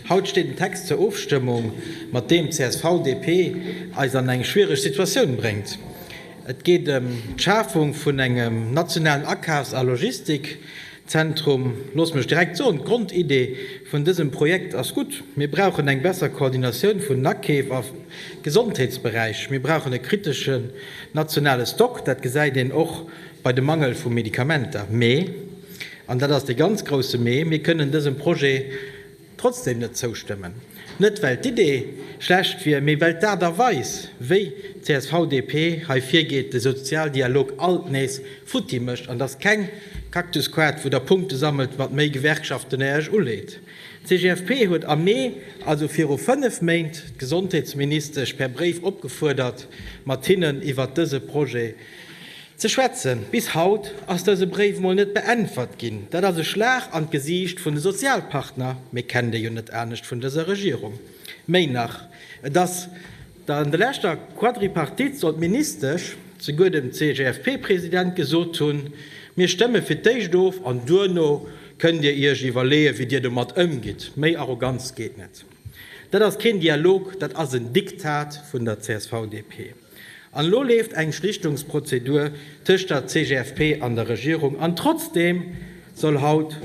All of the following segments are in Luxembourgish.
Haut steet en Text zur Ofstëmmung, mat deem d'CSV-DP eis an eng schwiereg Situatioun bréngt. Et geet ëm d'Schafung vun engem nationalen Akafs a Logistikzentrum. Loosst mech direkt soen, d'Grondidee vun dësem Projekt ass gutt. Mir brauchen eng besser Koordinatioun vun den Akeef am Gesondheetsberäich. Mir brauchen e kriteschen nationale Stock, dat gesäit een och bei dem Mangel vu Medikamenter. Mee, an dat ass dee ganz grousse Mee, mir kënnen dësem Projet, Trotzdem net zoustëmmen. Net well d'Idee schlecht wier, mee well d'Aart a Weis, wéi csv-DP hei virgeet, de Sozialdialog alt nees futti mécht. An et ass keng Cactus-Quad, wou Der Punkte sammelt mat méi Gewerkschaften, déi Dir Iech uleet. D'CGFP huet am Mee, also viru fënnef Méint, d'Gesondheetsministesch per Bréif opgefuerdert, mat hinnen iwwert dëse Projet, Ze schwätzen. Bis haut ass dëse Bréif mol net beäntwert ginn. Dat ass e Schlag an d'Gesiicht vun de Sozialpartner, mee kennt ee jo net anescht vun dëser Regierung. Méi nach, et ass der an der leschter Quadripartite soll d'Ministesch souguer dem CGFP-President gesot hunn, Mir stëmme fir d'éischt of an duerno kënnt Dir Iech iwwerleeë wéi Dir domat ëmgitt. Méi Arroganz geet net. Dat ass keen Dialog, dat ass en Diktat vun der CSV-DP. An elo leeft eng Schlichtungsprozedur tëscht der CGFP an der Regierung, an trotzdeem soll haut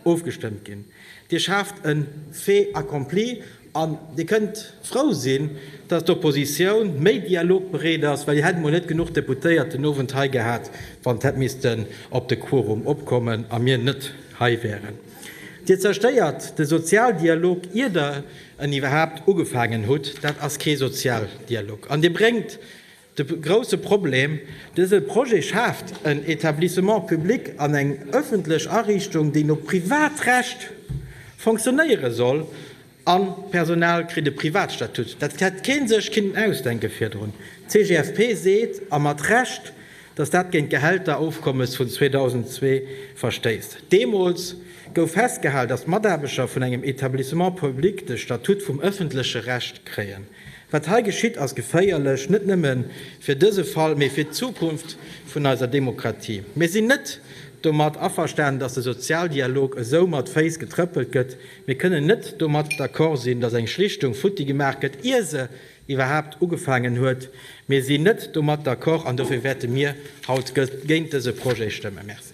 ofgestëmmt ginn. Dir schaaft e Fait accompli an Dir kënnt frou sinn, datt d'Oppositioun méi dialogbereet ass, well Dir hätt emol net genuch Deputéiert den Owend hei gehat, wann et hätt missten op de Quorum opkommen a mir net hei wären. Dir zerstéiert de Sozialdialog, ier Der en iwwerhaapt ugefaangen hutt, dat ass kee Sozialdialog an dee bréngt de grousse Problem. Dëse Projet schaaft en Etablissement public an eng ëffentlech Ariichtung, déi no Privatrecht fonctionnéiere soll a Personal kritt e Privatstatut. Dat hätt kee sech kinnen ausdenke virdrun. D'CGFP seet, a mat Recht, datt dat géint d'Gehälterofkommes vun 2002 verstéisst. Deemools gouf festgehal, datt d'Mataarbechter vun engem Etablissement public de Statut vum ëffentleche Recht kréien. Wat hei geschitt, ass geféierlech, net nëmme fir dëse Fall, mee fir d'Zukunft vun eiser Demokratie. Mir sinn net domat averstanen, datt de Sozialdialog esou mat Féiss getrëppelt gëtt. Mir kënnen net domat d'accord sinn, datt eng Schlichtung futti gemaach gëtt, ier se iwwerhaapt ugefaangen huet. Mir sinn net domat d'accord an dofir wäerte mir haut géint dëse Projet stëmmen. Merci.